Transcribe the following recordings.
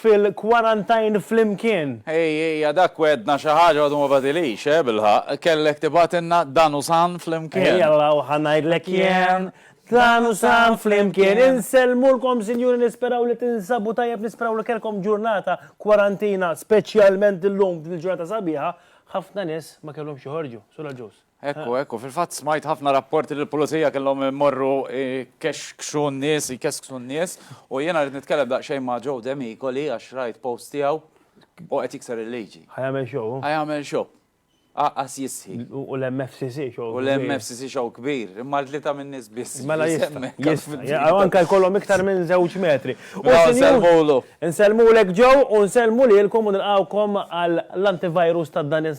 fil-kwarantajn flimkien. Ej, ejja, dak wegħedna xi ħaġa u għadu ma bagħtilix, eh, bil-ħaqq. Kellek tibgħatilna dan u san flimkien. Ejalla u ħa ngħidlek jien, dan u san flimkien. Insellmulkom, sinjuri, nisperaw li tinsabu tajjeb, nisperaw li kellkom ġurnata kwarantina, speċjalment illum, din il-ġurnata sabiħa, ħafna nies ma kellhomx joħorġu. Sur Agius. Ekku, ekku, fil-fatt smajt ħafna rapporti li l-pulizija kellhom imorru kexkxu n-nies, jkesksu n-nies, u jiena rrid nitkellem daqsxejn ma' Joe Demicoli għax rajt post tiegħu u qed jikser il-liġi. Ħa jagħmel show hu? Ħa jagħmel show. Għaqqas jistħi. U l-MFCC show kbir. U l-MFCC show kbir, imma tlieta min-nies biss. Mela jistħi. Jistħi. U anke jkollhom iktar minn żewġ metri. U nsellmulu. Nsellmulek Joe u nsellmu lilkom u nilqgħukom għall-antivirus ta' dan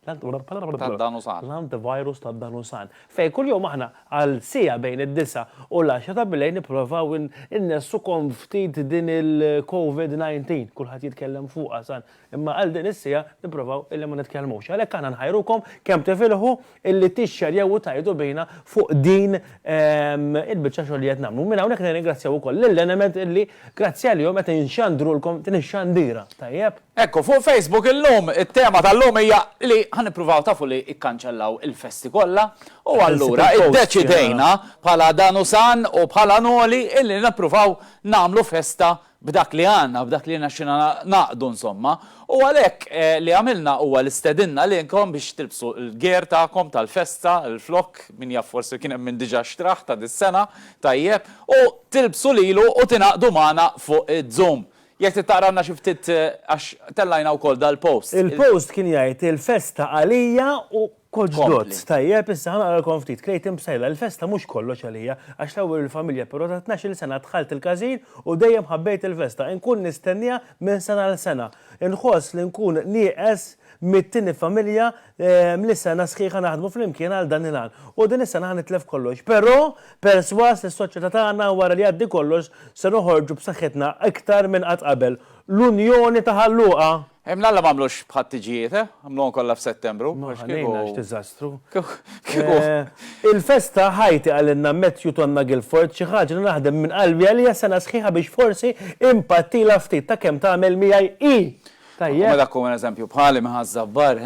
tad-danusar. L-antivirus tad-danusar. Fejn kuljum aħna għal siegħa bejn id-disgħa u l-għaxra ta' bilejl nipprovaw innessu kon ftit din il-Covid 19, kulħadd jitkellem fuqha san, imma għal din is-siegħa nipprovaw illi ma nitkellmux. Għalhekk aħna nħajrukom kemm tifilħu illi tixxerjaw u tgħidu bina fuq din il-biċċa xogħol li qed nagħmlu. Minn hawnhekk nirringrazzjaw ukoll lill-Enemed illi grazzi għalihom qed inxandrulkom din ix-xandira. Tajjeb? Ekku, fuq Facebook illum, it-tema tal-lum hija li ħa nippruvaw tafu li ikkanċellaw il-festi kollha u allura iddeċidejna bħala Danusan u bħala Noli illi nippruvaw nagħmlu festa b'dak li għandna, b'dak li rnexxina ngħaqdu insomma. U għalhekk li għamilna huwa li stedinna lilkom biex tilbsu l-gear tagħkom tal-festa, il-flokk, min jaf forsi kien hemm min diġà xtrah ta' dis-sena, tajjeb, u tilbsu lilu u tingħaqdu magħna fuq Zoom. Jekk trid taqralna xi ftit għax tellajna wkoll dal-post. Il-post kien jgħid Il-festa għalija u koġdot. Tajjeb, issa ħa naqralkom ftit. Clayton Psaila, Il-festa mhux kollox għalija, għax l-ewwel il-familja però ta' tnax-il sena dħalt il-każin u dejjem ħabbejt il-festa. Inkun nistenniha minn sena għal sena. Inħoss li nkun nieqes mit-tieni familja Li sena sħiħa naħdmu flimkien għal dan il-għan. U din is-sena ħa nitlef kollox. Però, persważ li s-soċjetà tagħna wara li jgħaddi kollox se noħorġu b'saħħitna iktar minn qatt qabel. L-Unjoni ta' Ħal Luqa! Mlalla m'għamlux bħat-tiġijiet, eh? Għamluhom kollha f'Settembru. Ma ħallejna, x'diżastru. Kieku. Il-festa Ħajti qalilna Matthew Tonna Guilford xi ħaġa li naħdem minn qalbi għaliha sena sħiħa biex forsi inpattilha ftit ta' kemm tagħmel miegħi hi! Tajjeb. U meta tkun eżempju bħali minn Ħaż-Żabbar,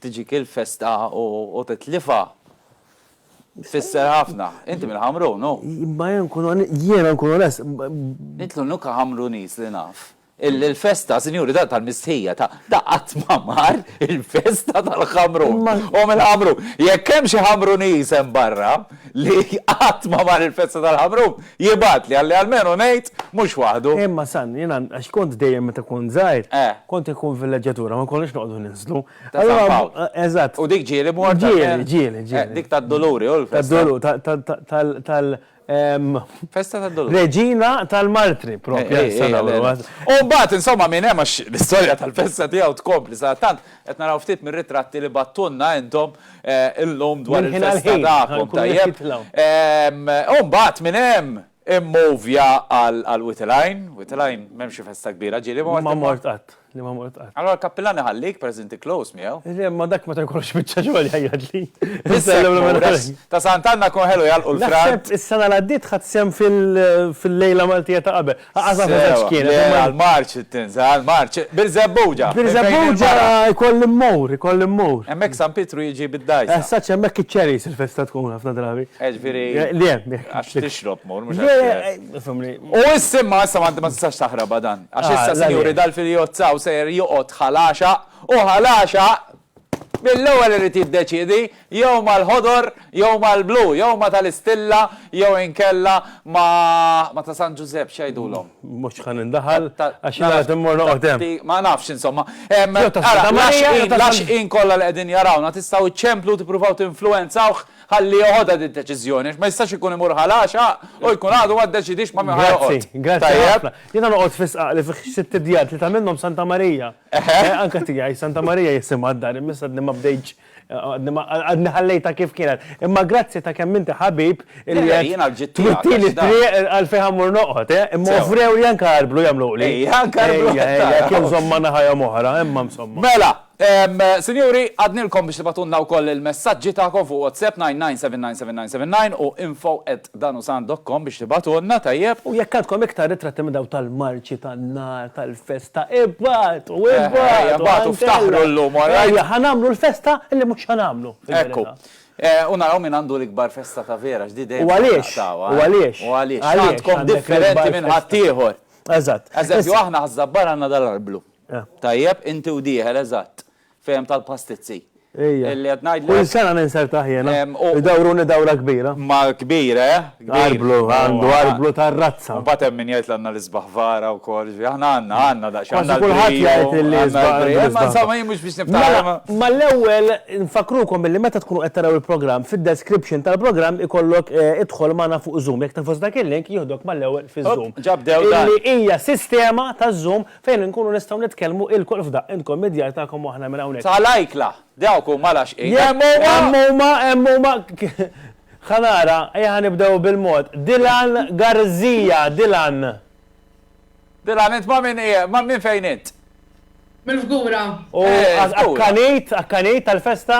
tiġik il-festa u titlifha. Tfisser ħafna. Inti minn Ħamrun, hu? Imma jien nkun on-, jiena nkun onest, ma. Int l-unika Ħamruniż li naf illi l-festa, sinjuri, ta' tal-mistħija ta' ta' qatt ma mar il-festa tal-Ħamrun. Imma. Hu minn Ħamrun. Jekk hemm xi Ħamruniż hemm barra li qatt ma mar il-festa tal-Ħamrun, Jibgħatli, ħalli almenu ngħid, mhux waħdu. Imma San, jiena, għax kont dejjem meta kont żgħir, kont inkun f'villeġġatura, ma konniex noqogħdu ninżlu. Ta' San Pawl. Eżatt. U dik ġieli mort għal Ġieli, Ġieli, ġieli, ġieli. Dik tad-Duluri, hu l-festa. Tad-Dulu, ta', ta', ta', tal, tal, ehm, Festa tad-Duluri. Reġina tal-Martri, propju, għax San Għawdu, għax. U mbagħad, insomma, min hemm, għax l-istorja tal-festa tiegħu tkompli, sadattant qed naraw ftit mir-ritratti li bagħttulna intom, Illum dwar il-festa tagħkom, tajjeb. U mbagħad minn hemm immovja għal Witilgħajn. Witilgħajn m'hemmx xi festa kbira, ġieli mort. Ma mort qatt, li ma mort qatt. Allura l-kappillan iħallik pereż inti close miegħu. Le, ma dak meta jkollux biċċa xogħol jgħajjatli. Ta' Sant'Anna jkun ħelu jagħlqu l-frant. Naħseb is-sena li għaddiet ħadt sehem fil-lejla Maltija ta' qabel. Sewa, le għall-marċ tinża' għall-marċ. Birżebbuġa! Birżebbuġa jkolli mmur, jkolli mmur. Hemmhekk San Pietru jiġi bid-dgħajsa. Esatt, hemmhekk iċ-cherries il-festa tkun ħafna drabi. Eh ġifieri. Le hemmhekk. Għax tixrob mur, mhux għax. U issa imma issa ma tistax taħrabha dan. Għax issa Sinjuri dal-Filiozzaw sejjer joqgħod ħalaxaq u ħalaxaq! Mill-ewwel irid jiddeċiedi jew mal-ħodor jew mal-blu, jew ma' tal-Istilla jew inkella ma' ma' ta' San Ġużepp, x'jgħidulhom? Mhux ħa nindaħal għax jien għad immur noqgħod hemm. Ma nafx insomma. Ara, l-għaxqin kollha li qegħdin jarawna tistgħu ċċemplu u tippruvaw tinfluwenzawh ħalli joħodha din id-deċiżjoni għax ma jistax ikun imur ħa l-għaxaq u jkun għadu ma ddeċidiex ma' min ħa joqgħod. Grazzi, grazzi ħafna. Jiena noqgħod fis-sqaq li fih sitt idjar, tlieta minnhom Santa Marija. Eħe, anka tiegħi, Santa Marija jisimha d-dar, imissa għadni ma bdejtx, għadni ħallejta kif kienet. Imma grazzi ta' kemm inti ħabib li qed twittini triq għal fejn ħammur noqgħod, eh? imma offrew li anka arblu jagħmlu li. Ejja, anka arblu. Ejja, kien żomma naħajja moħra, imma msomma. Mela, Sinjuri, għadnilkom biex tibatunna wkoll il-messaġġi tagħkom fuq WhatsApp 99797979 u info at Dan hu sant dokkom biex tibagħtulna, tajjeb? U jekk għandkom iktar ritratti minn dawk tal-marċi tan-nar tal-festa, ibagħtu, ibagħtu, għan Kella! Ejja, ħa nagħmlu l-festa li mhux ħa nagħmlu, fil-verità. Ekku. U naraw min għandu l-ikbar festa ta' vera, għax di dejjem se naqtgħuha, eh? U għaliex? U għaliex? U għaliex? X'għandkom differenti minn ħaddieħor? Eżatt. Eżempju, aħna Ħaż-Żabbar għandna dal-arblu. Tajjeb? Inti u dieħel, eżatt. Fehem tal-pastizzi. Ejja. Illi qed ngħidlek. Kull sena ninsertah jiena. Idawruni dawra kbira. Ma kbir, eh? Arblu, għandu arblu tar-razza. U mbagħad hemm min jgħid għandna l-isbaħ vara wkoll. Aħna għandna, għandna daqsxejn. Kważi kulħadd jgħid illi l-isbaħ. Ma insomma jien mhux biex nibtagħha. Ma l-ewwel nfakrukom illi meta tkunu qed taraw il-programm fid-description tal-programm ikollok idħol magħna fuq Zoom. Jekk tinfos dak il-link jieħdok mal-ewwel fiż-Zoom. Ġabdew dan. Illi hija sistema taż-Zoom Fejn inkunu nistgħu nitkellmu ilkoll f'daqq, intkom mid-djar tagħkom u aħna minn hawnhekk. Ta' l-ajkla! Dawk huma l-għaxqin. Hemm huma! Hemm huma! Hemm huma! Ħa nara, ejja ħa nibdew bil-mod. Dylan Garzija, Dylan. Dylan, int ma' min qiegħ, ma' min fejn int? Mill-Fgura. U akkanejt, akkanejt għall-festa?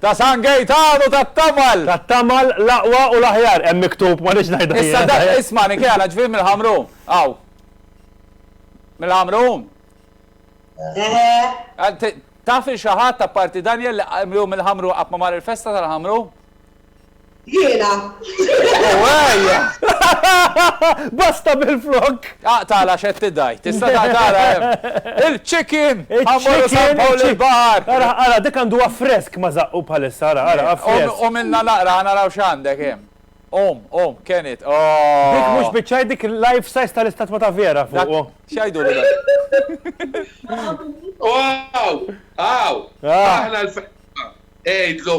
Ta' San Gejtanu tat-Tamal! Tat-Tamal, l-aqwa u l-aħjar, hemm miktub, ma rridx ngħidha jien. Issa dak, isma' Nikela, ġifieri mill-Ħamrun, hawn. Mill-Ħamrun? Eħe. Taf lil xi ħadd, apparti Daniel, li hu mill-Ħamrun qatt ma mar il-festa tal-Ħamrun? Basta bil-flokk! Aqtagħla għax qed tidgħajt. Tista' taqtagħla hemm. Il-chicken! Ħa mmorru San Pawl il-Baħar! Ara, ara, dik għanduha fresk ma żaqqu bħalissa, ara, ara, ha fresk. Qumilna naqra ħa naraw x'għandek hemm. Qum, qum, ken it, ooh! Dik mhux biċċa, dik life size tal-istatwa ta' Vera fuqu. X'jgħidulu dan? Wow! Hawn! Aħna l-ferħa! Għidlu!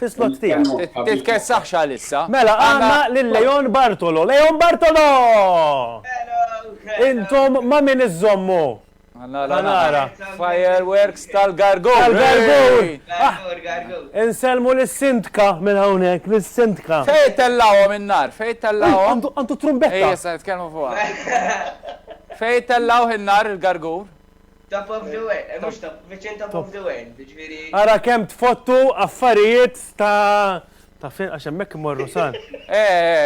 Fis-slot tiegħek. Titkessaħx għalissa. Mela għandna lil Leon Bartolo. Leon Bartolo! Intom ma' min iżżommu? Ħa nara. Fireworks tal-Gargur. Tal-Gargur! Insellmu lis-Sindka minn hawnhekk, lis-Sindka. Fejn tellgħuhom in-nar? Fejn tellgħuhom? Għandu t-trumbetta. Ejja, issa nitkellmu fuqha. Fejn tellgħuh in-nar il-Gargur? Top of the world, mhux top, viċin top of the world, jiġifieri. Ara kemm tfottu affarijiet ta' ta' fejn għax hemmhekk imorru sal.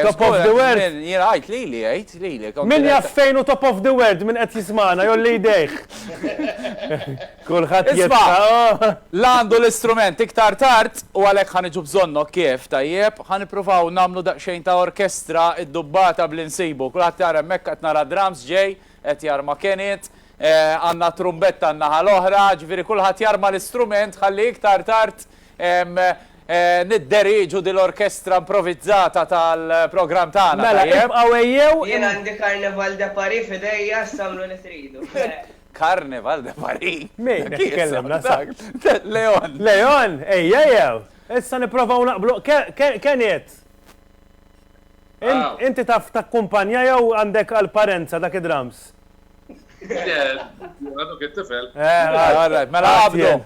Top of the world. Jiena għidt lili, għidt lili. Min jaf fejn hu top of the world min qed jismagħna jgħolli jdejh. Kulħadd jisma'. La għandu l-istrument iktar tard u għalhekk ħa niġu bżonnok kif, tajjeb? Ħa nippruvaw nagħmlu daqsxejn ta' orkestra iddubbata b'li nsibu. Kulħadd jara hemmhekk qed nara drums ġej, qed jarma Kenit, Għandna t-trumbetta n-naħa l-oħra, ġifieri kulħadd jarma l-istrument ħalli iktar tard nidderieġu din l-orkestra improvizzata tal-programm tagħna, tajjeb? Mela, ibqgħu ejjew. Jien għandi Carnaval de Paris f'idejja, issa għamlu li tridu. Carnaval de Paris? Min qed ikellimna sa? Leon. Leon, ejjejew! Issa nipprovaw naqblu, Kenneth! Inti taf takkumpanja jew għandek għall-parenza dak id-drums? Għadok it-tifel. Eh, mela għabdu.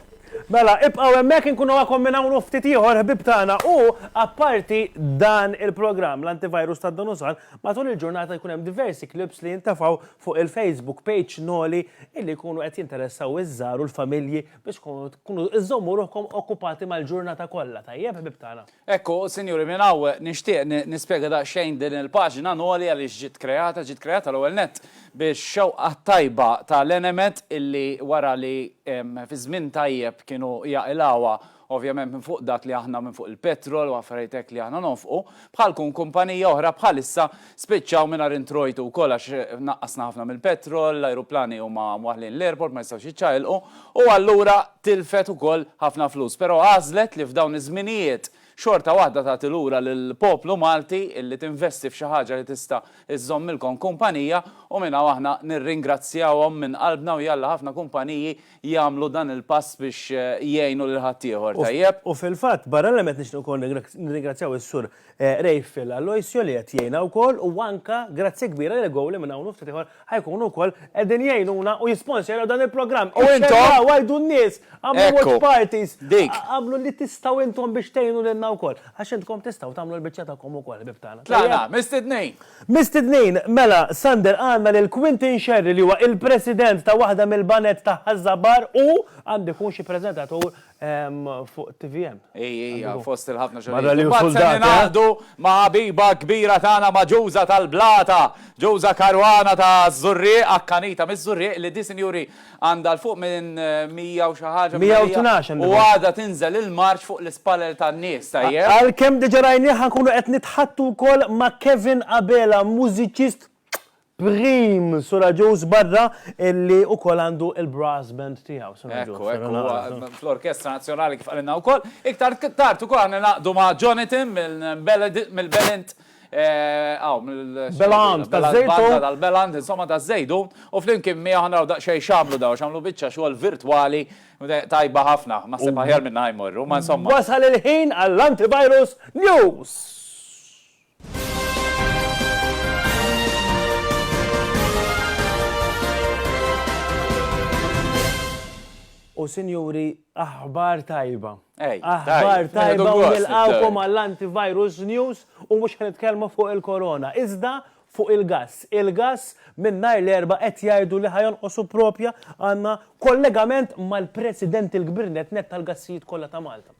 Mela, ibqaw emmek nkunu għakom minn hawn ftit ieħor ħbib tagħna u apparti dan il-programm l-antivirus ta' Donusal matul il-ġurnata jkun hemm diversi klips li jintafaw fuq il-Facebook page Noli illi jkunu qed jinteressaw iż-żar u l-familji biex kunu iżommu ruħkom okkupati mal-ġurnata kollha tajjeb ħbib tagħna. Hekk hu, sinjuri, minn hawn nixtieq nispjega daqsxejn din il-paġna Noli għaliex ġiet kreata. Ġiet kreata l-ewwel nett bix-xewqa t-tajba ta' l-Enemed illi wara li fi żmien tajjeb kienu jaqilgħuha ovvjament minn fuq dak li aħna minn fuq il-petrol u affarijiet hekk li aħna nonfqu bħalkun kumpanija oħra bħalissa Spiċċaw mingħajr introjtu wkoll għax naqqasna ħafna mill-petrol, l-ajruplani huma mwaħħlin l-airport ma jistgħux jiċċaqilqu u allura tilfet ukoll ħafna flus. Però għażlet li f'dawn iż-żminijiet xorta waħda tagħti lura lill-poplu Malti illi tinvesti f'xi ħaġa li tista' żżommilkom kumpanija u minn hawn aħna nirringrazzjawhom minn qalbna u jalla ħafna kumpaniji jagħmlu dan il-pass biex jgħinu lil ħaddieħor, tajjeb? U fil-fatt barra l-hemm qed nixtieq ukoll nirringrazzjaw is-Sur Rayfield Aloisio li qed jgħinha wkoll u anke grazzja kbira lil Goal li minn hawn u ftit ieħor ħa jkunu wkoll qegħdin jgħinuna u jisponserjaw dan il-programm. U intom? Iċċekkjaw, għajdu n-nies, għamlu watch parties. Ekku, dik. Għamlu li tistgħu intom biex tgħinu lilna wkoll. Għax intkom tistgħu tagħmlu l-biċċa tagħkom ukoll, ħbieb tagħna. Tlaqna, mistednin! Mistednin, mela, Sander, għandna lil Quintin Scerri li huwa il-President ta' waħda mill-baned ta' Ħaż-Żabbar u għandu jkun xi preżentatur Fuq tvm. Ej, ej, fost il-ħafna xogħol. Barra li wkoll dan. Naqdu ma' ħabiba kbira tagħna ma' Ġuża tal-Blata, Ġuża Karwana ta' Żurrieq, akkanita miż-Żurrieq li di sinjuri għandha 'l fuq minn 100 u xi ħaġa. 112 għandha. U għadha tinżel il-marċ fuq l-ispallel tan-nies, tajjeb? Għalkemm diġa rajnieh ħa nkunu qed nitħaddtu wkoll ma' Kevin Abela, mużiċist Prim suraġuż barra illi ukoll għandu il-brass band tiegħu. Ekku, ekku, huwa fl-Orkestra Nazzjonali kif qalilna wkoll. Iktar tard ukoll aħna ningħaqdu ma' Jonathan mill-Belent, hawn mill-. Belant, taż-Żejtun. Tal-Belant, insomma taż-Żejtun, u flimkien miegħu ħa naraw daqsxejn x'għamlu dawn, x'għamlu biċċa xogħol virtwali tajba ħafna. Naħseb aħjar minnha jmorru, ma insomma. Wasal il-ħin għall-Antivirus News! U sinjuri, aħbar tajba. Ej, Aħbar tajb, tajba nieħdu u gost nilqawkom nibdew. għall-antivirus news u mhux ħan nitkellmu fuq il-korona. Iżda fuq il-gas. Il-gas minn nhar l-erba qed jgħidu li ħajonqosu propja għandna kollegament mal-President il-Kbir net net tal-gassijiet kollha ta' Malta.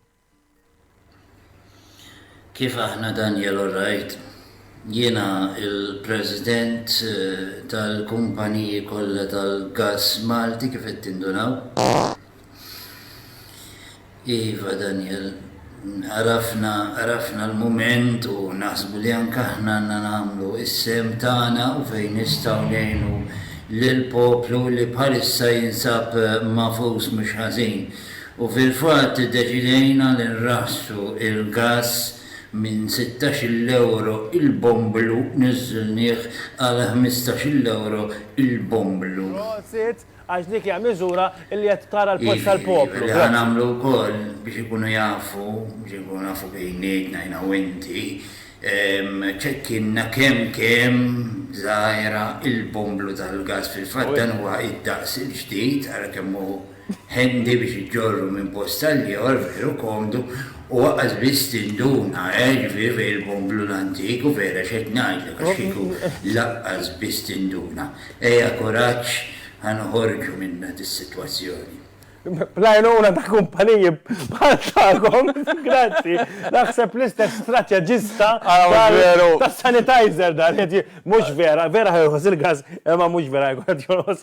Kif aħna Daniel alright? Jiena l-president tal-kumpaniji kollha tal-gass Malti kif qed tindunaw. Iva Daniel, għarafna għarafna l-mument u naħsbu li anke aħna għandna nagħmlu s-sehem tagħna u fejn nistgħu ngħinu lill-poplu li bħalissa jinsab magħfus mhux ħażin U fil-fatt iddeċidejna li nraħħsu l-gass minn sittax-il ewro l-bomblu niżżilnieh għal ħmistax-il ewro l-bomblu. Prosit, għax dik hija miżura li qed tara l-post tal-poplu. Jiġifieri li ħa nagħmlu wkoll biex ikunu jafu, biex inkunu nafu bejnietna jiena u inti, ċekkinna kemm kemm żgħira l-bomblu tal-gass. Fil-fatt dan huwa d-daqs il-ġdid, ara kemm hu. Handy biex iġġorru minn post għal ieħor, veru komdu, u aqqas biss tinduna, eh, ġifieri fejn il-bomblu l-antik, u vera x'qed ngħidlek għax kieku laqqas biss tinduna. Ejja kuraġġ, ħa noħorġu minnha dis-sitwazzjoni. Bl-għajnuna ta' kumpaniji bħal tagħkom, grazzi, naħseb l-istess strateġista tas-sanitizer dan qed mhux vera, vera ħa jorħos il-gass, imma mhux vera jkun qed jorħos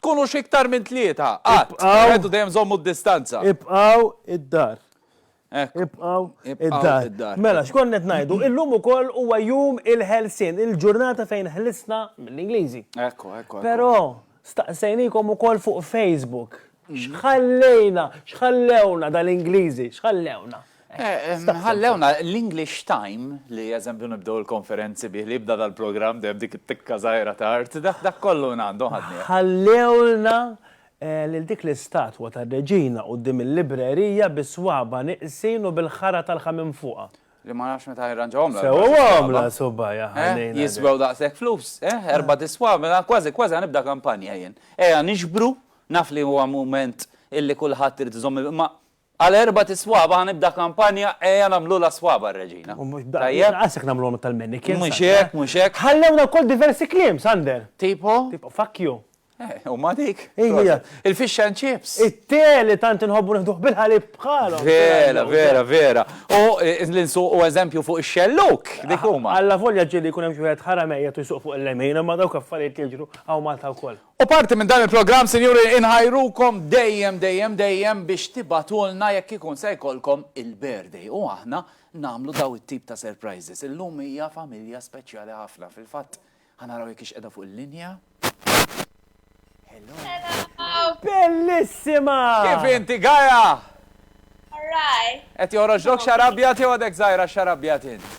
Tkunux iktar minn tlieta, qatt. Ibqgħu. Wieħed u dejjem żommu d-distanza. Ibqgħu id-dar. Hekk. Ibqgħu Ibqgħu id-dar. id-dar. Mela, x'kont qed ngħidu? Illum ukoll huwa jum il-ħelsien, il-ġurnata fejn ħlisna mill-Ingliżi. Ekku, ekku, ekku. Però, staqsejnikom ukoll fuq Facebook, x'ħallejna, x'ħallewna dal-Ingliżi, x'ħallewna? Ħallewna l-English Time, li eżempju nibdew il-konferenzi bih, li jibda dal-programm dejjem b'dik it-tikka żgħira ta' art, dak kollu minn għandhom ħadnieh. Ħallewlna lil dik l-istatwa tar-Reġina quddiem il-librerija bis-swaba' nieqsin u bil-ħara talħa minn fuqha. Li ma nafx meta jirranġawhomlha l-ħara tal-swaba'. Sewwhomlha subajha ħalejna din. Jiswew daqshekk flus, eh? Erbat iswab', mela kważi kważi ħa nibda kampanja jien. Ejja niġbru, naf li huwa mument illi kulħadd irid iżomm, imma Għal erbat is-swaba' ħa nibda kampanja Ejja nagħmlulha s-swaba' r-Reġina. U mhux b'hekk, inqas jekk nagħmluhom tal-mannequins. Mhux hekk, mhux hekk. Ħallewna wkoll diversi kliem, Sander. Tipo? Tipo, fuck you. Eh, u ma dik? Hija. Il-fish and chips. It-te li tant inħobbu nieħduh bil-ħalib bħalhom. Vera, vera, vera. U li nsuqu eżempju fuq ix-xelluk, dik huma. Allavolja ġieli jkun hemm xi wieħed ħaramejjed u jsuq fuq il-lemin, imma dawk affarijiet jiġru hawn Malta wkoll. U parti minn dan il-programm, Sinjuri, inħajrukom dejjem, dejjem, dejjem biex tibagħtulna jekk ikun se jkollkom il-birthday u aħna nagħmlu dawn it-tip ta' surprises. Illum hija familja speċjali ħafna. Fil-fatt, ħa naraw jekk hix qiegħda fuq il-linja. Hello. Hello. Bellissima! Kif inti, Gaja? All right. Qed joħroġlok xarabjat jew għadek żgħira xarabjat int?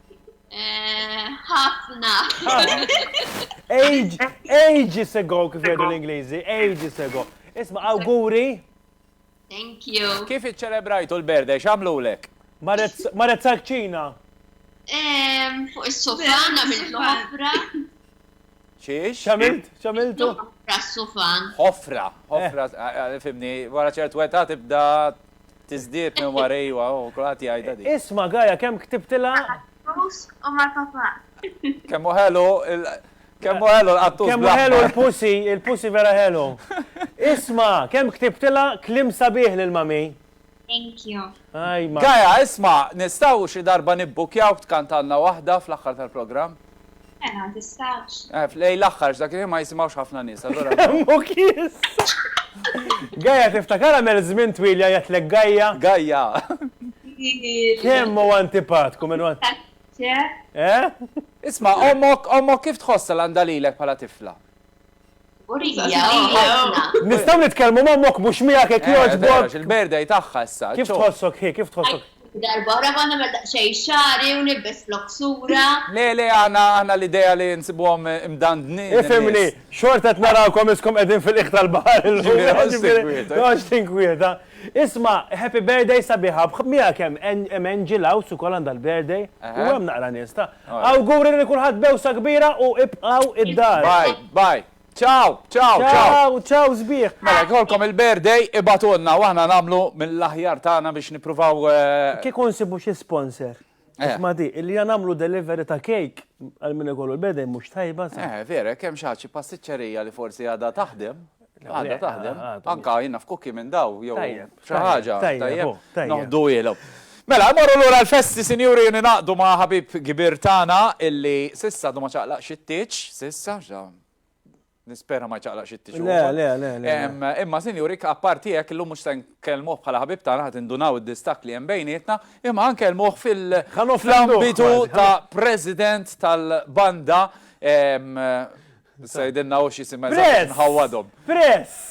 Eh, ħafna. Age, ages ago kif jgħidu l-Ingliżi, ages ago. Isma' awguri. Thank you. Kif iċċelebrajtu l-berde, x'għamlulek? Marret salċina. Fuq is-sofa nagħmel ħafra. Xiex? Xamilt? Xamiltu? Ħofra s-sufan. Ħofra, ħofra, eh. eh, eh, fimni, wara ċert weta tibda tizdiet minn warejwa u kulħadd jgħidha di. Isma' Gaja kemm ktibtilha? U ma tafa. Kemm ħelu Kemm ħelu l-qattus. Kemm ħelu l-pusi, il-pusi vera ħelu. Isma, kemm ktibtila klim sabiħ lil mami. Thank you. Hi Mark. Gaia, isma', nistgħu xi darba nibbukkjawk tkantgħalna waħda fl-aħħar tal-programm? Mela, tistgħux. Eh, lejn l-aħħar għax dak il-ħin ma jisimgħux ħafna nies, allura. Femmok issa! Gaia, tiftakarha mel żmien twil jgħajjatlek Gaia? Gaia! Kemm hu antipatku minn wara. Tant, ċe? Eh? Isma', ommok, ommok kif tħossha l-għandha lilek bħala tifla? Kburija ħafna. Nistgħu nitkellmu ma' ommok mhux miegħek jekk jogħġbok? Għax il-birthday tagħha issa. Kif tħossok hi, kif tħossok? Darba oħra ma nagħmel daqsxejn xagħri u nilbes floksura. Le, le, aħna, aħna l-idea li nsibuhom imdandnin. Ifhimni, xorta qed narawkom iskom qegħdin fil-qiegħ tal-baħar illum. Noqgħodx tinkwieta. Isma', happy birthday sabiħa, miegħek hemm Angel House ukoll għandha l-birthday u hemm naqra nies ta'. Awguri lil kulħadd b'għewsa kbira u ibqgħu id-dar. Bye bye. Ciao ciao ciao. Ciao ciao sbieħ. Mela jekk jkollkom il-birthday ibagħtulna u aħna nagħmlu mill-aħjar tagħna biex nippruvaw. Kieku nsibu xi sponsor. Isma' di, li ja nagħmlu delivery ta' cake għal min ikollu l-birthday mhux tajba sa. Eh vera, jekk hemm xi ħadd xi pastiċċerija li forsi għadha taħdem. Għadha taħdem. Anka jien naf kukki minn daw jew xi ħaġa. Tajjeb, noħdu ilhom. Mela, morru lura l-festi, sinjuri, jien naqdu ma' ħabib kbir tagħna illi sissa du ma ċaqlaq xittiċ, sissa, nispera ma ċaqlaq xittiċ. Le, le, le, le. Imma, sinjuri, apparti hekk illum mhux se nkellmuh bħala ħabib tagħna ħad indunaw id-distak li hemm bejnietna, imma nkellmuh fil-ambitu ta' president tal-banda Issa jidilna hu x'jisimha eżatt biex nħawwadhom. Press!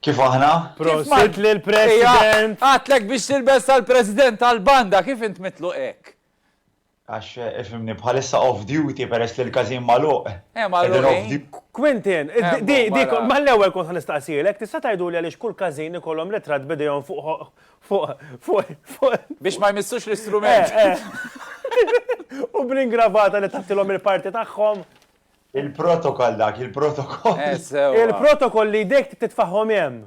Kif aħna? Prosit lill-President! Ejja, għadtlek biex tilbes tal-President tal-Banda, kif int mitluq hekk? Għax, ifhimni, bħalissa off duty peress li l-każin magħluq. Eh, magħluqin. Quentin, di, di, mal-ewwel kont ħa nistaqsielek, tista' tgħiduli għaliex kull każin ikollhom ritratt b'idejhom fuq Fuq, fuq, fuq. Biex ma jmissux l-istrument. Eh, eh. U bl-ingravata li tattilhom il-parti tagħhom. Il-protokoll dak, il-protokoll. Eh, il-protokoll li jdek titfaħħom hemm.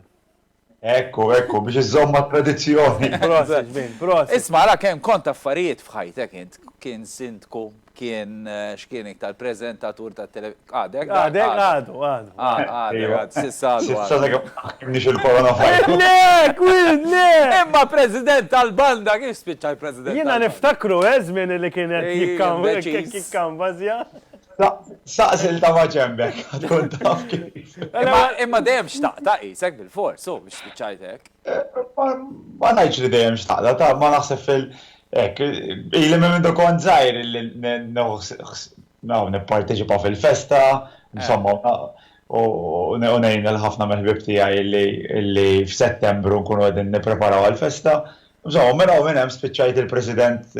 Ekku, ekku, biex iżomma tradizzjoni. Proset, bin, proset. Isma, la kem kont affarijiet fħajtek int, kien sindku kien x'kien iktar preżentatur ta' televisioni. Għadek? Għadek, għadu, għadu. Għadu, għadu, għadu, sissa għadu. Sissa dak mniex il-korona fajtu. Le, kwid, le! Imma president tal-banda, kif spiċċa l-president tal-banda? Jina niftakru, eżmin li kien jikkambazja. Saqsil ta' maġembek, għadkun taf kif. Imma dejjem xtaqta, jisek bil-fors, u biex spiċċajtek. Ma najċ li dejjem xtaqta, ta' ma naħseb fil- Hekk, ili minn meta kont żgħir li nipparteċipa fil-festa, insomma, u ngħin lil ħafna mill-ħbieb tiegħi li f'Settembru nkunu qegħdin nippreparaw għall-festa. Insomma, minn hawn u minn hemm spiċċajt il-President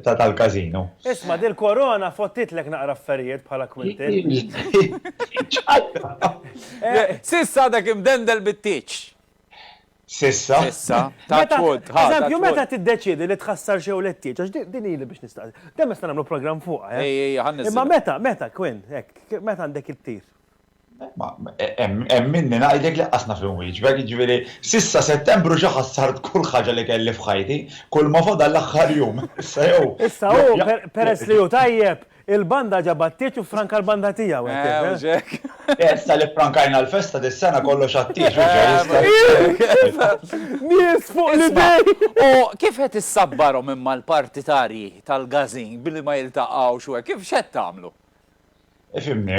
tal-Casino. Isma', dil-Korona fottitlek naqra affarijiet bħala kwintill. X'għadha? S'issa għadek imdendel bit-tieġ. S'issa. S'issa. Touch wood. Ħa. Eżempju, meta tiddeċiedi li tħassarx jew le tieġ, għax din hi li biex nistaqsi. Dejjem nistgħu nagħmlu programm fuqha, eh? Ejja, ejja, ħa nniżżilha. Imma meta, meta, Quinn, hekk, meta għandek ittir? Ma, hemm minni ngħidlek li laqqas naf inwieġbek, jiġifieri s'issa Settembru ġa ħassart kull ħaġa li kelli f'ħajti, kulma fadal l-aħħar jum. Issa jew. Issa hu, peress li hu tajjeb, Il-banda ġabha t-tieġ u ffranka l-banda tiegħu, hekk kif, eh? Ew, hekk. Eh, issa li ffrankajna l-festa dis-sena kollox għat-tieġ, hux ġej issa? Nies fuq l-idejn! Isma', u kif qed issabbarhom imma l-partitarji tal-Gazin billi ma jiltaqgħux u hekk, kif x'qed tagħmlu? Ifhimni,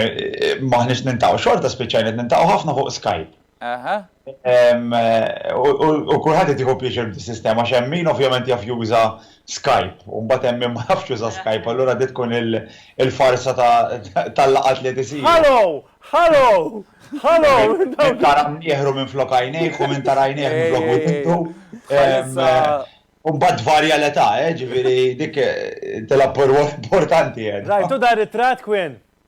m'aħniex niltaqgħu, xorta spiċċajna qed niltaqgħu ħafna fuq Skype. Aha. U kulħadd qed jieħu pjaċir bis-sistema għax hemm min ovvjament jaf juża Skype u mbagħad hemm min ma jafx juża Skype allura din tkun il-farsa tal-laqgħat li qed isiru. Hallo! Hallo! Hallo! Min tara mnieħru minflok għajnejh u min tara għajnejh minflok widnejh. U mbagħad tvarja l-età, ġifieri dik tilgħab rwol importanti. Rajtu dan ir-ritratt, Quinn?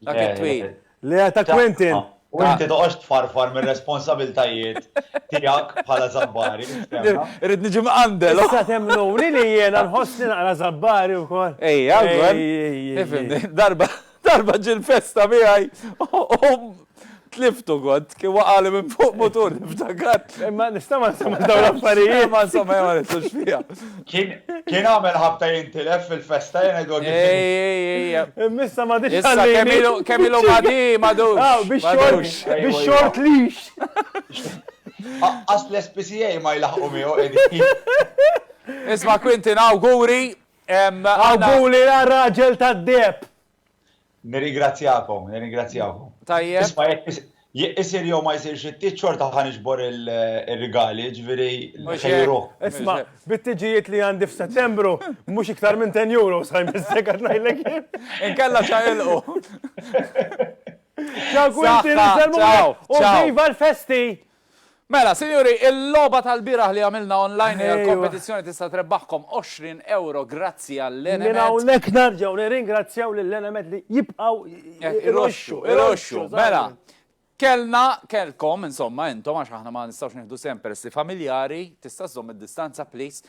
Dak it-twil. Le ta' Quentin. U inti toqgħodx tfarfar mir-responsabiltajiet tiegħek bħala żabbari. Irrid niġi mqandel. Issa temmnuni li jiena nħossni naqra żabbari wkoll. Ejja, għalkemm. Darba ġie l-festa miegħi u Tliftu kont, kien waqali minn fuq mutur niftakar. Imma nista' ma nsemma dawn l-affarijiet. Ma nsemma ma nidħlux fiha. Kien għamel ħabta jintilef fil-festa jien għedu għaddi. Ej, ej, ej. Immissa ma dix għalli. Kemm ilu ma di, ma dux. Aw, biex xort, biex xort lix. Aqqas l-SPCA ma jlaħqu miegħu qegħdin. Isma' Quintin, awguri. Awguri għar-raġel tad-deheb. Nirringrazzjakom, nirringrazzjakom. Tajjeb. Isma' jekk isir jew ma jsirx it-tiet xorta ħa niġbor ir-rigali, ġifieri ħejru. Isma' bit-tiġijiet li għandi f'Settembru mhux iktar minn 10 euro sa jmissek qed ngħidlek jien. Inkella ċaqilqu. Ciao Quintin, inselmulek u viva l-festi! Mela, sinjuri, il-logħba tal-bieraħ li għamilna online hija l-kompetizzjoni tista' trebbaħkom 20 ewro grazzi għall-Enemed. Minn hawnhekk nerġgħu nirringrazzjaw lill-Enemed li jibqgħu jroxxu, iroxxu. Mela, kellna, kellkom, insomma, intom għax aħna ma nistgħux nieħdu sehem peress li familjari, tista' żżomm id-distanza please,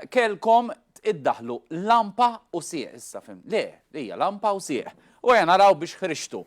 kellkom iddaħħlu lampa u sieq issa, fim, le, hija lampa u sieq. U ejja naraw biex ħriġtu.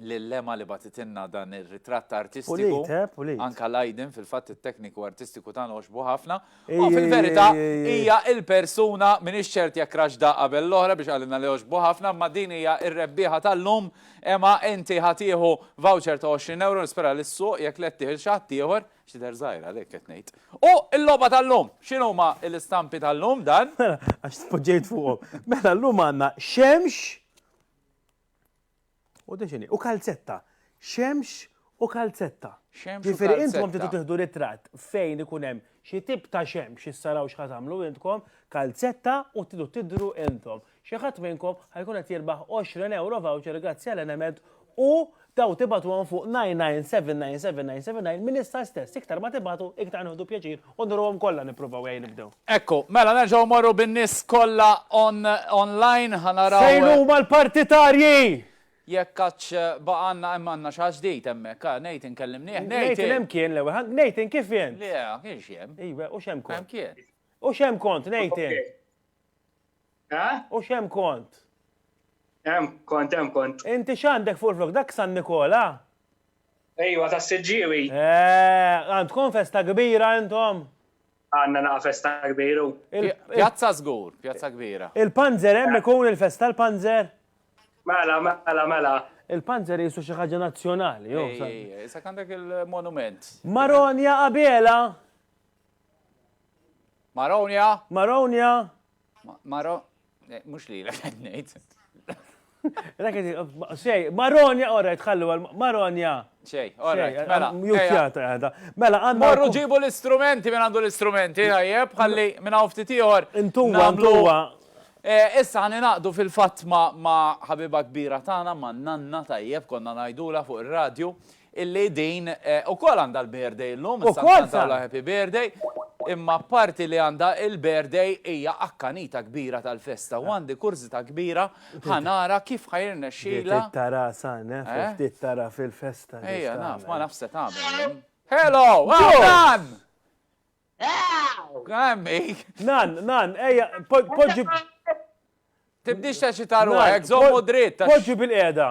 lil Emma li bagħtitilna dan ir-ritratt artistiku. Pulit, eh, pulit. Anka l-aydin fil-fatt it-tekniku artistiku tagħna għoxbu ħafna. Ej, U ej, fil-verità ej, ej, ej. hija il-persuna m'iniex ċert jekk raxda qabel l-oħra biex qalilna li għoxbu ħafna, imma din hija r-rebbieħa tal-lum. Emma, inti ħa tieħu voucher ta' 20 ewro, nispera li s-suq jekk le ttieħ il xi ħadd ieħor, x'tidher żgħira għalik qed ngħid. U l-logħba tal-lum, x'inhuma l-istampi tal-lum dan? Mela, għax tpoġġejt fuqhom. Mela llum għandna xemx, U din x'inhi? U kalzetta. Xemx u kalzetta. Xemx u kalzetta. intom titu tiħdu ritratt fejn ikun hemm xi tip ta' xemx issaraw x'ħa tagħmlu intkom, kalzetta u tidu tidru intom. Xi ħadd minnkom ħajkun qed jirbaħ 20 euro voucher grazzi għal Enemed u daw tibatuhom fuq 9979799 minn issa stess. Iktar ma tibatu, iktar nieħdu pjaċir U nurruhom kollha nippruvaw ejja nibdew. Ekku, mela nerġgħu mmorru bin-nies kollha on online ħa naraw. Fejn huma l-partitarji? Jekk għadx baqa' għandna hemm għandna xi ħadd ġdid hemmhekk, ha, Nathan kellimnieh, Nathan. Nathan hemm kien l-ewwel, ha, Nathan kif int? Le, kienx hemm. Ejwe, u x'hemm kont? Hemm kien. U x'hemm kont, Nathan? Eh? U xem kont? Hemm kont, hemm kont. Inti x'għandek fuq il-flok dak San Nikola? Ejwa ta' Siġġiewi. Eh, għandkom festa kbira intom? Għandna naqa' festa kbiru. Pjazza żgur, pjazza kbira. Il-panzer hemm ikun il-festa l-panzer? Mela, mela, mela. Il-panzer jisu xi ħaġa nazzjonali, jo. Issa għandek il-monument. Maronja Abela? Maronia. Maronia. Maro. Eh, mux li la għed nejt. Raketi, xej, Maronia, ora, tħallu għal Maronia. Xej, ora, mela. Jutjata għada. Mela, għanna. Morru ġibu l-istrumenti, minn għandu l-istrumenti, għajjeb, għalli minn għafti tiħor. Intuwa, intuwa. Eh, issa għani naqdu fil-fat ma ħabiba kbira tana, ma nanna tajjeb, konna najdula fuq il-radju. illi din ukoll għandha l-birthday illum, issa nkantawlha happy birthday, imma apparti li għandha l-birthday hija akkanita kbira tal-festa u għandi kurżità kbira ħa nara kif ħa jirnexxilha. Ftit ta' rasha naf, ftit ta' rasha fil-festa li se tagħmel. Ejja naf, ma nafx se tagħmel. Hello! Hawn Nan! Għemmi! Nan, Nan, ejja, poġġi. Tibdiex teċita ruħek, żommu dritt. Poġġi bil-qiegħda.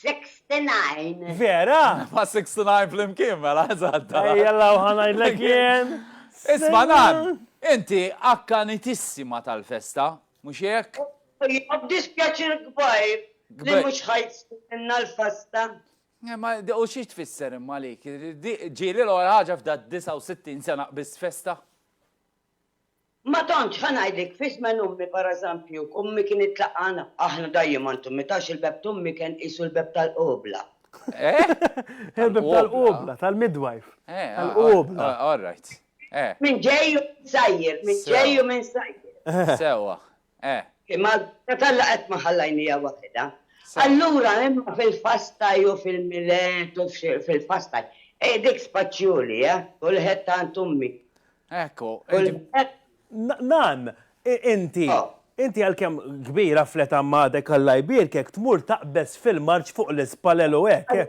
69. Vera? Ma 69 fl-imkien, mela, eżatta. Jalla, uħanajdlek jien. Isma nan, inti akkanitissima tal-festa, mux jek? Jgħab dispjaċir kbajr, li mux ħajt minna l-festa. Eh, u xiex tfisser imma li, ġili l-għora ħagġa f'da 69 sena bis festa? Ma tantx ħa ngħidlek fi żmen ommi pereżempju, ommi kien itlaqgħana, aħna dajjem għand ommi, tafx il-beb t'ommi kien qisu l-beb tal-qubla. Eh? Il-beb tal-qubla, tal-midwife. Eh, tal-qubla. All right. Eh. Min ġej u min sajjer, min ġej u min sajjer. Sewwa. Eh. Imma l-bocca t'Alla qatt ma ħallajnija waħidha. Sew. Allura imma fil-fastaj u fil-Milet u fil-fastaj. Hi dik spaċjuli, eh? Kulħedd għand ummi. Hekk hu. Nan, inti, inti għalkemm kbira fl-età m'għadek Alla jbierkek tmur taqbeż fil-marċ fuq l-ispalel u hekk, eh?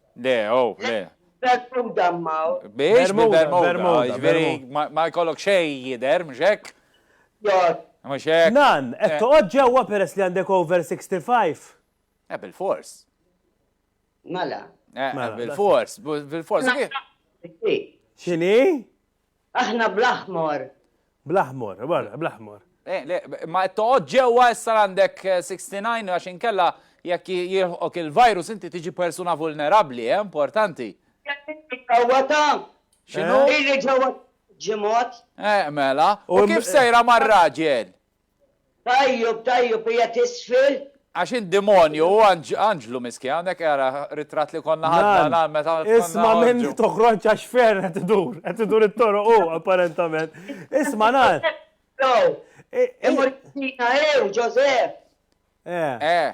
Le, oh, le. Bermuda mmaw. Biex Bermuda, ġveri, ma jkollok xej jider, mux hekk? Jod. Mux hekk. Nan, qed eh. toqgħod ġewwa peress li għandek over 65. Eh, bil-fors. Mela. Eh, mela. bil-fors, bil-fors. Xini? Aħna bl-aħmor. Bl-aħmor, barra, bl-aħmor. Eh, le, ma toqgħod ġewwa issa għandek 69 eh, għax inkella jekk jilħok il-virus inti tiġi persuna vulnerabbli, eh, importanti. Kawwata. X'inhu? Illi ġewwa ġimgħat. Eh, mela. U kif sejra mar-raġel? Tajjub tajjub qiegħed isfel. Għax int demonju u anġlu miskin hawnhekk ara ritratt li konna ħadna Nan, meta konna isma' minni toħroġx għax ferr qed idur, qed idur it-toroq hu apparentament. Isma' Nan. Imur Tina ew Ġożeff. Eh. Eh.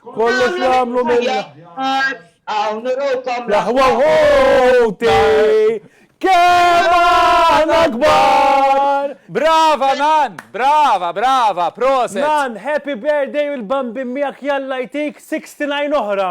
Kollox nagħmlu mill-aħjar. Hawn urukom l-aħwa ħuti. Kemm aħna kbar! Brava nan, brava, brava, proset. Nan, happy birthday u l-bambin miegħek jalla jtik 69 oħra.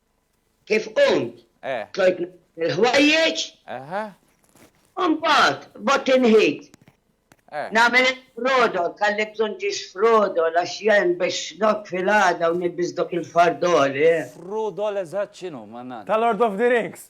kif qomt, eh. tlajt il-ħwajjeġ, mbagħad bad inħid. Eh. Nagħmel il-frodo, kalli bżonn ġiex frodo, għax jen biex not fil-għada u nilbis dok il-fardoli. Eh. Frodo l-eżatt x'inhu, mannat? Tal-Lord of the Rings.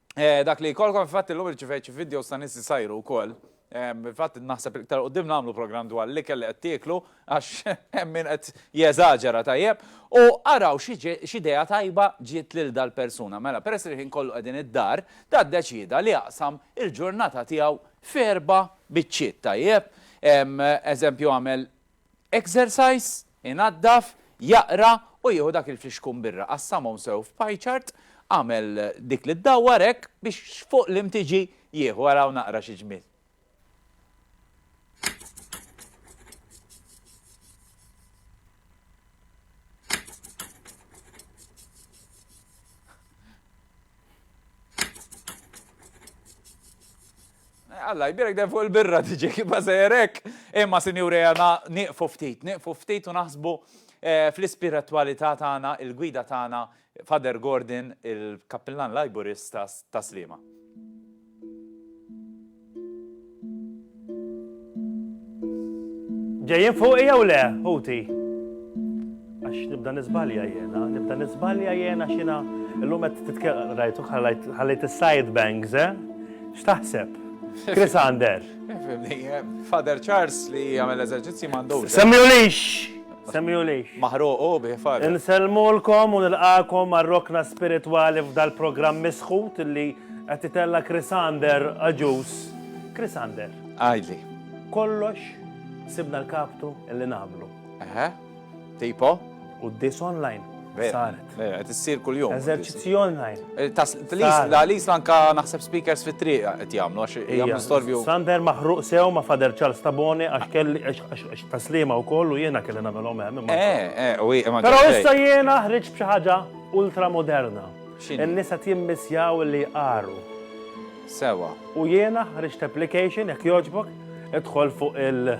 Dak li jkollkom fil-fatt illum irċivejt xi videos ta' nies li sajru wkoll. Fil-fatt naħseb iktar quddiem nagħmlu programm dwar l-ikel li qed tieklu għax hemm min qed jeżaġera tajjeb. U araw x'idea tajba ġiet lil dal-persuna. Mela, peress li l-ħin kollu qegħdin id-dar, da ddeċieda li jaqsam il-ġurnata tiegħu f'erba' biċċiet tajjeb. Eżempju għamel Exercise, Inaddaf, jaqra u jieħu dak il-flixkun birra, qassamhom sew f'pie chart, agħmel dik li ddawwar hekk biex fuq l-imtiġi jieħu, araw naqra xi ġmiel. Alla jbierek dejjem fuq il-birra tiġi kibha sejjer hekk. Imma sinjuri għana nieqfu ftit, nieqfu ftit u naħsbu eh, fl-ispiritwalità tagħna, il-gwida tagħna Father Gordon, il-Kappillan Lajburista ta' Sliema. Ġejjin fuqi jew le, ħuti? Għax nibda nizbalja jena, nibda nizbalja jena xina l-lum għed titkellem, rajtu ħallejt il-side bangs, eh? X'taħseb? Chris Ander. Eh, Father Charles li għamil eżerċizzi mandu. Semmi ulix! Semmi ulix. Maħruqu bi, Father. Nselmulkom u nilqakom għal-rokna spirituali f'dal-programm misħut li għed titella Chris Ander għagġus. Chris Ander. Għidli. Kollox sibna l-kaptu li nagħmlu. Eħe. Tipo? Quddies online. Veru. Saret. Veru, qed issir kuljum. Eżerċizzji online. Eh, tas- Lis- Saret. la- Lis anka naħseb speakers fit-triq qed jagħmlu għax Ija, jagħmlu storvju. Sander maħruq sew ma' Fader Charles Tabone għax kelli għax- għax għax taslima wkoll u jiena kelli nagħmelhom hemm. imma- Eh, eh, u hi- imma Però ġej. issa jiena ħriġt b'xi ħaġa ultramoderna. X'inhi? In-nisa timmissjaw li jqaru. sewa. U jiena ħriġt application jekk jogħġbok idħol fuq il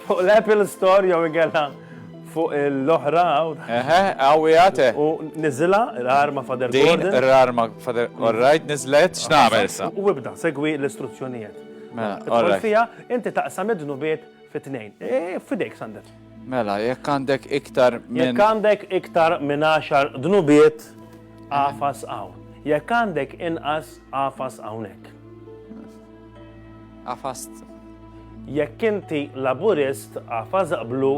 fuq l-Apple Store jew inkella fuq l-oħra. Eħe, għawi għate. U nizila, r-arma fader Gordon. Din, r-arma fader, all right, nizlet, x'nagħmel sa? U ibda, segwi l-istruzzjonijiet. Mela, all right. Fija, inti taqsam id-dnubiet Fit-tnejn. Eh, fidejk, Sander. Mela, jekk għandek iktar minn. Jekk għandek iktar minn 10 dnubiet, għafas hawn. Jekk għandek inqas, għafas hawnhekk. Għafast. Jekk inti laburist, għafas blu,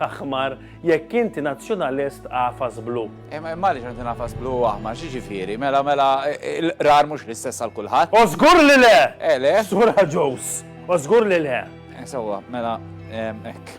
aħmar jekk inti nazzjonalist għafas blu. Imma imma li xanti nafas blu aħmar, xi ġifieri? Mela mela l-qrar mhux l-istess għal kulħadd. O żgur li le! Eh le? Sura ġows. O żgur li le. Eh, sewwa, mela hekk.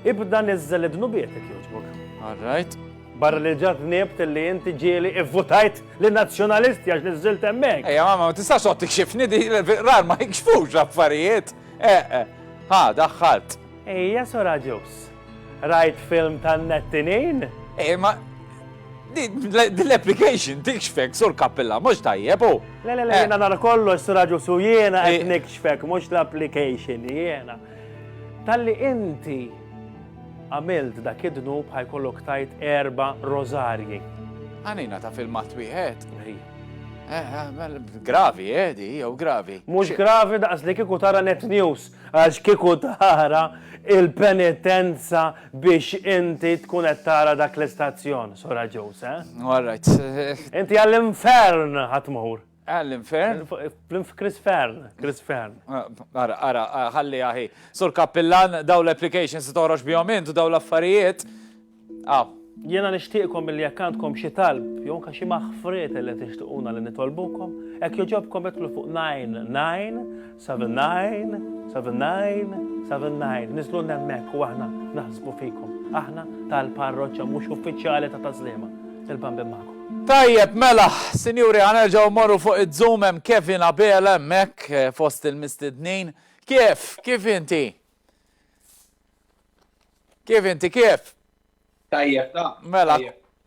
Ibda niżżel id-dnubietek jogħġbok. All right. Barra li ġa dnibt li inti ġieli ivvutajt li Nazzjonalisti għax niżżilt hemmhekk. Ejja mamma ma tistax toqgħod tikxifni di l-rar ma jikxfux affarijiet. Eh, eh. Ha, daħħalt. Ejja sora ġus. Rajt film tan-nettinin? Ejja ma l-application tikxfek sur kappilla, mux tajjeb u. Le, le, le, eh. jena nara kollox sur raġu su jena għed eh. nikxfek, mux l-application jena. Talli inti għamilt dak id-dnub ħa jkollok tgħid erba' rożarji. Għanina ta' filmat wieħed. Eh, eh, mela, gravi, eh, di, jew gravi. Mux gravi daqs li kiku tara net news, għax kiku tara il-penitenza biex inti tkun qed tara dak l-istazzjon, sora ġus, eh? All right. Inti għall-infern ħatmur. Alan Fern? Chris Fern, Chris Fern. Ara, ara, ħalli aħi. Sur Kappillan, daw l-applications toħroġ bihom int u daw l-affarijiet. Ah. Jena nishtiqkom mill jekk għandkom xi talb, jew ka xi maħfriet li tixtiquna li nitolbukom, hekk joġobkom itlu fuq 99 Seven Nine, Seven Nine, Seven Nine, niżlu nemmek u aħna naħsbu fikom. Aħna tal-parroċċa mhux uffiċjali ta' Tażliema, il-bambin magħkom. Tajjeb, mela, sinjuri ħa nerġgħu mmorru fuq iz-Zoom hemm Kevin Abela hemmhekk fost il-mistednin. Kif? Kif inti? Kif inti kif? Tajjeb, ta. Mela,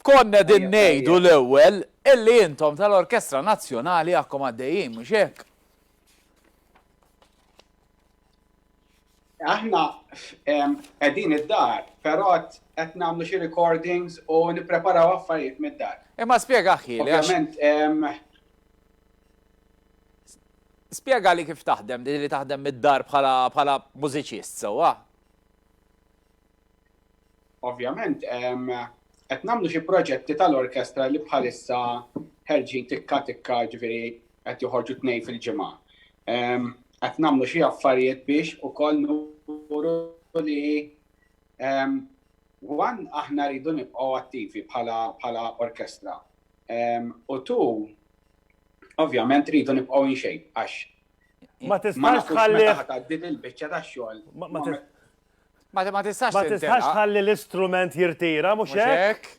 konna din ngħidu l-ewwel illi intom tal-Orkestra Nazzjonali għakkom għaddejjin, mhux hekk? Aħna qegħdin id-dar, però qed nagħmlu xi recordings u nippreparaw affarijiet mid-dar. Imma spjega ħi. Ovvjament. Spjega li kif taħdem, li taħdem mid-dar bħala mużiċist sewwa. Ovvjament, qed nagħmlu xi proġetti tal-orkestra li bħalissa ħerġin tikka tikka ġifieri qed joħorġu tnejn fil-ġimgħa. Qed nagħmlu xi affarijiet biex ukoll nuru li one aħna rridu nibqgħu attivi bħala orkestra u two ovvjament rridu nibqgħu in shape għax ma tistax tħalli taħt din il-biċċa tax-xogħol. Ma ma tistax Ma tistax tintelaq. tħalli l-istrument jirtira, mhux Mhux hekk? hekk?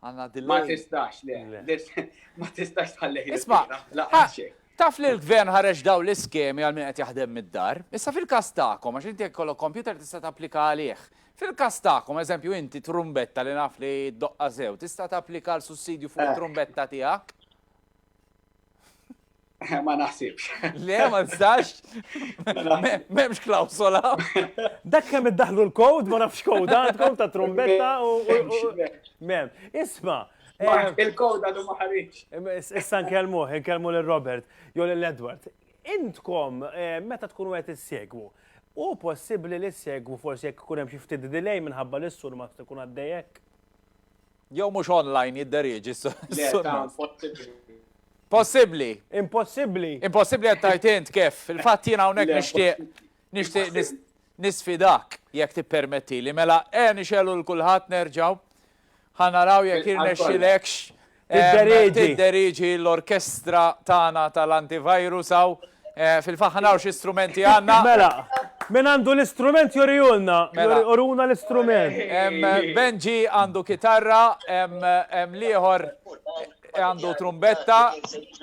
Għandna Ma delay. tistax, le. Le. Lis- Ma tistax tħallih Isma', jirtira. ha, Lanqas xejn. taf li l-Gvern ħareġ dawn l-iskemi għal min qed jaħdem mid-dar? Issa fil-każ tagħkom, għax inti jekk ikollok computer tista' tapplika għalih. Fil-każ tagħkom, eżempju inti trumbetta li naf li ddoqqha sew, tista' tapplika għal sussidju fuq Eh. it-trumbetta tiegħek? Ma naħsibx. Le, ma nistax. Memx klausola. Dak kemm iddaħlu l-kod, ma nafx kod, għandkom ta' trombetta u. Mem, isma. Eh, il-kod għadu ma ħarix. Issa nkellmu, nkellmu l-Robert, jew l-Edward. Intkom, eh, meta tkunu għet s-segwu, u possibli li s-segwu forsi jek kunem xifti delay minħabba l-issur ma tkun għaddejek? Jew mhux online jidderieġi s-sunnat. Possibbli. Impossibbli. Impossibbli qed tgħid int kif. Il-fatt jien hawnhekk nixtieq nixtieq nisfidak jekk tippermetti li mela e nixelu l kulħadd nerġgħu ħanaraw jekk irnexxilekx Tidderiġi. Tidderiġi l-orkestra tagħna tal-antivirus hawn Fil-fatt ħa naraw xi strumenti għandna. Mela, min għandu l-istrument jurihulna, Mela. uruna l-istrument. Em, Benji għandu kitarra, em, em, l-ieħor għandu trumbetta,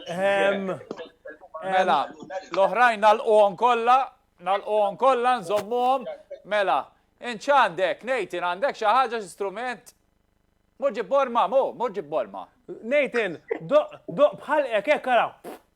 Ehem, mela, l-oħrajn nalquhom kollha, nalquhom kollha, nżommuhom, mela, int x'għandek, Nathan, għandek xi ħaġa xi strument? Mur ġib borma, mu, mur ġib borma. Nathan, doq, doq bħal hekk, hekk ara.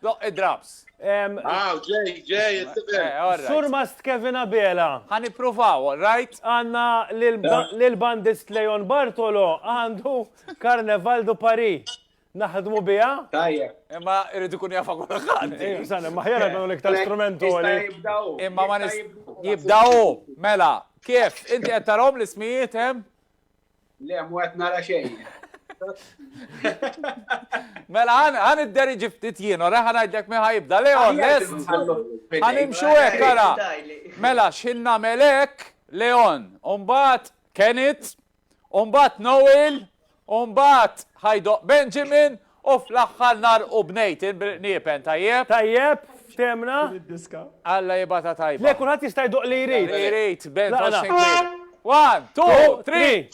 Doq id-draps. Aw, ġej, ġej, jistibel. Eh, Surmast Kevin Abela. Għan ipruvaw, all right? Għanna l-bandist Leon Bartolo għandu Carnaval du Paris. Naħdmu bija? Tajja. Imma irridu kun jafa kull ħadd. Eh, Sana, maħjara għandu l-iktar strumentu għali. Imma ma jibdaw, mela, kif? Inti għettarom l-ismijiet, Le, mu qed nara xejn. Mela għan id-deri ġiftit jien, ora għan għajdlek miħa jibda, Leon, lest? Għan imxu ek, għara. Mela, xin namelek, Leon, umbat Kenneth, umbat Noel, umbat ħajdoq Benjamin, U fl-aħħar nagħrqu b'nejtin bil-qniepen, tajjeb? Tajjeb, fthemna. Din id-diska. Alla jibgħatha tajba. Le, kulħadd jista' jdoqq li jrid. Li jrid, band Tlaqna. Ocean Queen. One, two, three!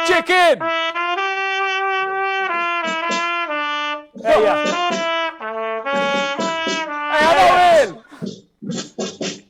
Chicken! Ejja. Ejja, Noel!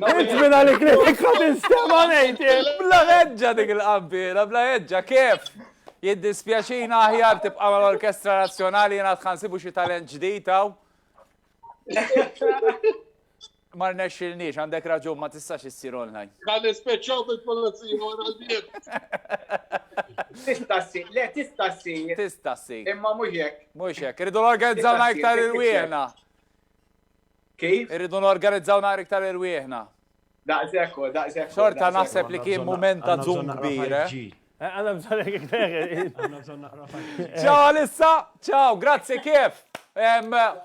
Nitmina li kritika tinstema nejt, bla ħedġa dik il-qabbira, bla ħedġa, kif? Jiddispjaċina aħjar tibqa mal orkestra Nazzjonali jena tħansibu xi talent ġdid Ma rnexxilniex, għandek raġun, ma tistax issir online. Ka nispeċċaw bil-pulizija wara l-bieb. Tista' ssir, le tista' ssir. Tista' ssir. Imma mhux hekk. Mhux hekk, irridu norganizzawna iktar irwieħna. Kif? Irridu norganizzawna iktar irwieħna. Daqshekk, daqshekk. Xorta naħseb li kien mument ta' zoom kbir. Eh? Għanna bżon Għanna bżon naqra Ciao Alissa, ciao, grazzi kif.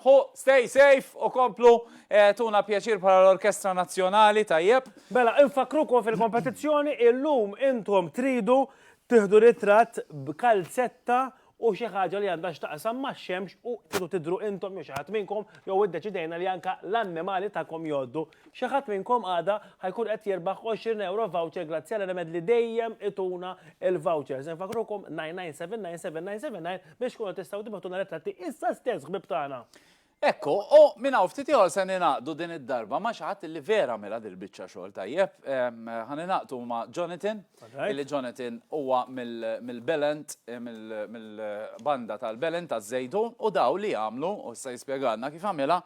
Hu, stay safe u komplu eh, tuna pjaċir para l-Orkestra Nazzjonali tajjeb. Bella, infakrukom fil-kompetizzjoni illum intom tridu tiħdu ritratt b'kalzetta u xi ħaġa li għandha x'taqsam max-xemx u tridu tidhru intom jew xi ħadd minnkom jew iddeċidejna li anke l-annimali tagħkom jgħoddu. Xi ħadd minnkom għada ħa jkun qed jirbaħ 20 ewro voucher grazzi għal Remed li dejjem ituna l-vouchers. Infakkrukom 99797979 biex tkunu tistgħu tibgħatulna ritratti issa stess ħbieb tagħna. Hekk hu, u minn hawn ftit ieħor se ningħaqdu din id-darba ma' xi ħadd li vera għamilha dil-biċċa xogħol tajjeb. Ħa ningħaqdu ma' Jonathan, li Jonathan huwa mill-Belent, mill-banda tal-Belent taż-Żejtun, u dawn li għamlu, u issa jispjegalna kif għamilha,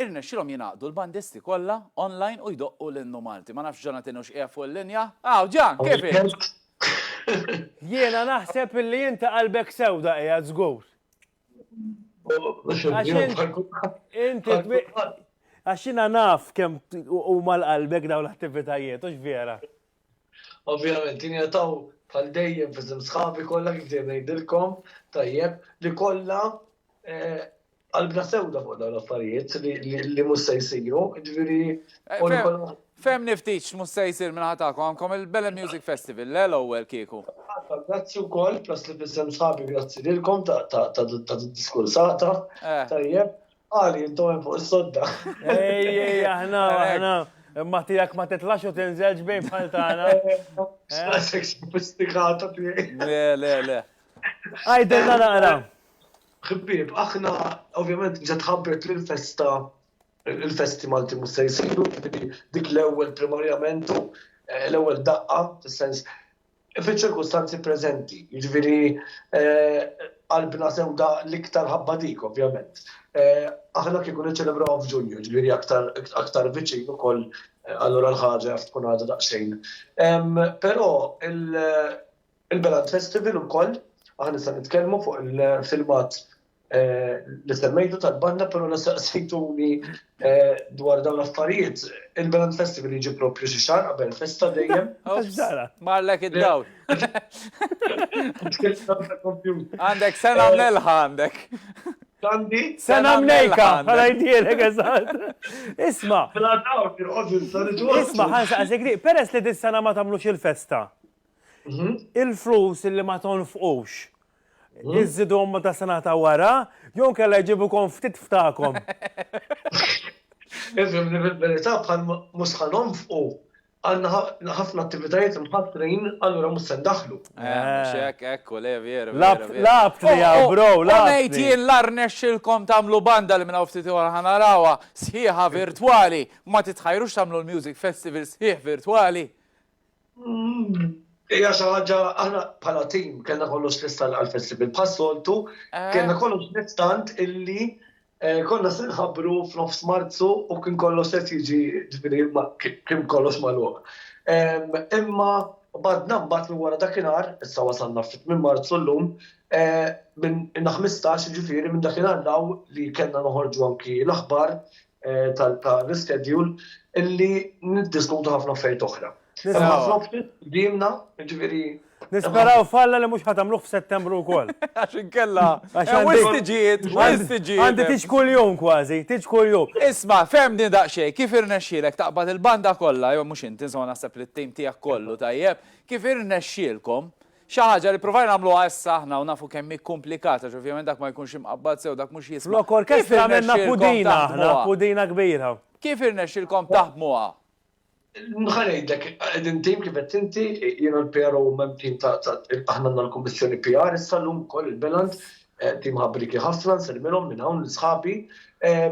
irnexxielhom jingħaqdu l-bandisti kollha online u jdoqqu l-innu Malti. Ma nafx Jonathan hux qiegħed fuq il-linja? Hawn, Jan, kif inti? Jiena naħseb li inti qalbek sewda qiegħed żgur. Għaxina naf kem u mal-qalbek daw l-attivitajiet, ux vera? Ovvijament, jina taw tal dejjem fizim sħabi kolla kif dejjem nejdilkom, tajjeb, li kolla eh, qalbna sewda fuq daw l-affarijiet li mus se jisiru, ġviri, eh, Fehmni ftit x'mhux se jsir min-naħa tagħkom, għandkom il-Belem Music Festival, le l-ewwel kieku? Iva, grazzi wkoll, proset f'isem sħabi grazzi lilkom ta' din id-diskursata. Tajjeb. Għali, intom hemm fuq is-sodda. Ej, ej, aħna, aħna. Imma tiegħek ma titlax u tinżelx bejn bħal tagħna. Daqshekk sofistikata tiegħi. Le, le, le. Għidilna naqra. Ħbieb, aħna ovvjament ġiet tħabbret li l-festa il-festi Malti mhux se jsiru, jiġifieri dik l-ewwel primarjament l-ewwel daqqa fis-sens fiċ-ċirkustanzi preżenti, jiġifieri qalbna sewda l-iktar ħabba dik ovvjament. Aħna kieku niċċelebrawha f'Ġunju, jiġifieri aktar aktar viċin ukoll allura l-ħaġa jaf tkun għadha daqsxejn. Però Il-Galant Festival ukoll, aħna issa nitkellmu fuq il-filmat li semmejtu tal-banda però la saqsejtuni dwar dawn l-affarijiet. Il-Galant Festival jiġi proprju xi xahar qabel festa dejjem. Marlek id-dawl. Għandek sena mnelħa għandek. Għandi? Sena mnejka, għala jdielek eżatt. Isma. Isma, ħansaqsik li, peress li dis-sena ma tagħmlux il-festa, il-flus li ma tonfqux iżidhom ma ta' sena ta' wara, jew kella jġibukom ftit ftakom. Ifhem li fil-verità bħal mhux ħa nonfqu għandna ħafna attivitajiet mħassrin allura mhux se ndaħħlu. Ekku le veru. Labt li hawn bro, labt. Ngħid jien la rnexxilkom tagħmlu banda li minn hawn ftit ieħor ħa narawha sħiħa virtwali, ma titħajrux tagħmlu l-music festival sħiħ virtwali. Ija xi ħaġa aħna bħala tim kellna kollox l-istant għall-festival bħas-soltu, eh. kellna kollox l-istant illi eh, konna se nħabbru f'nofs Marzu u kien kollox se jiġi ġifieri kien kollox magħluq. Imma badna mbagħad minn wara dakinhar, issa wasalna fit minn Marzu llum, eh, minn 15 ġifieri minn dakinhar law li kellna noħorġu anki l-aħbar ta' l-ischedule illi niddiskutu ħafna affarijiet oħra. Nisperaw falla li mux ħatamluħ f'Settembru u koll. Għaxin kella. Għaxin tiġiet, għaxin tiġiet. Għandi tiġ kull jum kważi, tiġ kull jum. Isma, fem din daqxej, kif irnexxilek taqbad il-banda kolla, jo mux inti, insomma naħseb li t-tim tijak kollu tajjeb, kif irnexxilkom Xi ħaġa li ppruvajna nagħmluha issa aħna u nafu kemm hi komplikata, ġ'ovvjament dak ma jkunx imqabbad sew, dak mhux jisma'. Flok orkestra għamilna pudina aħna, pudina kbira. Kif irnexxielkom taħdmuha? Ħa ngħidlek, qegħdin tim kif għedt inti, jien u l-PRO u hemm tim ta' aħna għandna l-kummissjoni PR issa llum ukoll il-Bilanz, tim ħabrieki ħafna, nsellmilhom minn hawn lil sħabi.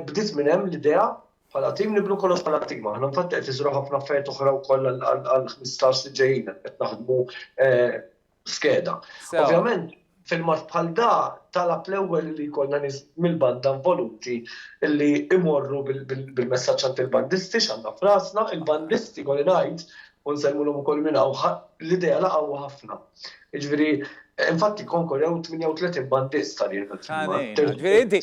Bdiet minn hemm l-idea. Bħala tim nibnu kollox bħala tim. Aħna infatti qed iżżru ħafna affarijiet oħra wkoll għall-ħmistax li ġejjin hemm qed naħdmu skeda. Ovvjament filmat bħal da talab l-ewwel li jkollna nies mill-banda involuti li imorru bil-messaġġ għand il-bandisti x'għandna f'rasna, il-bandisti kolli ngħid u nsellmulhom ukoll minn hawn l-idea laqgħu ħafna. Jiġifieri infatti Concord hawn 38 bandist għalih. Ġifieri inti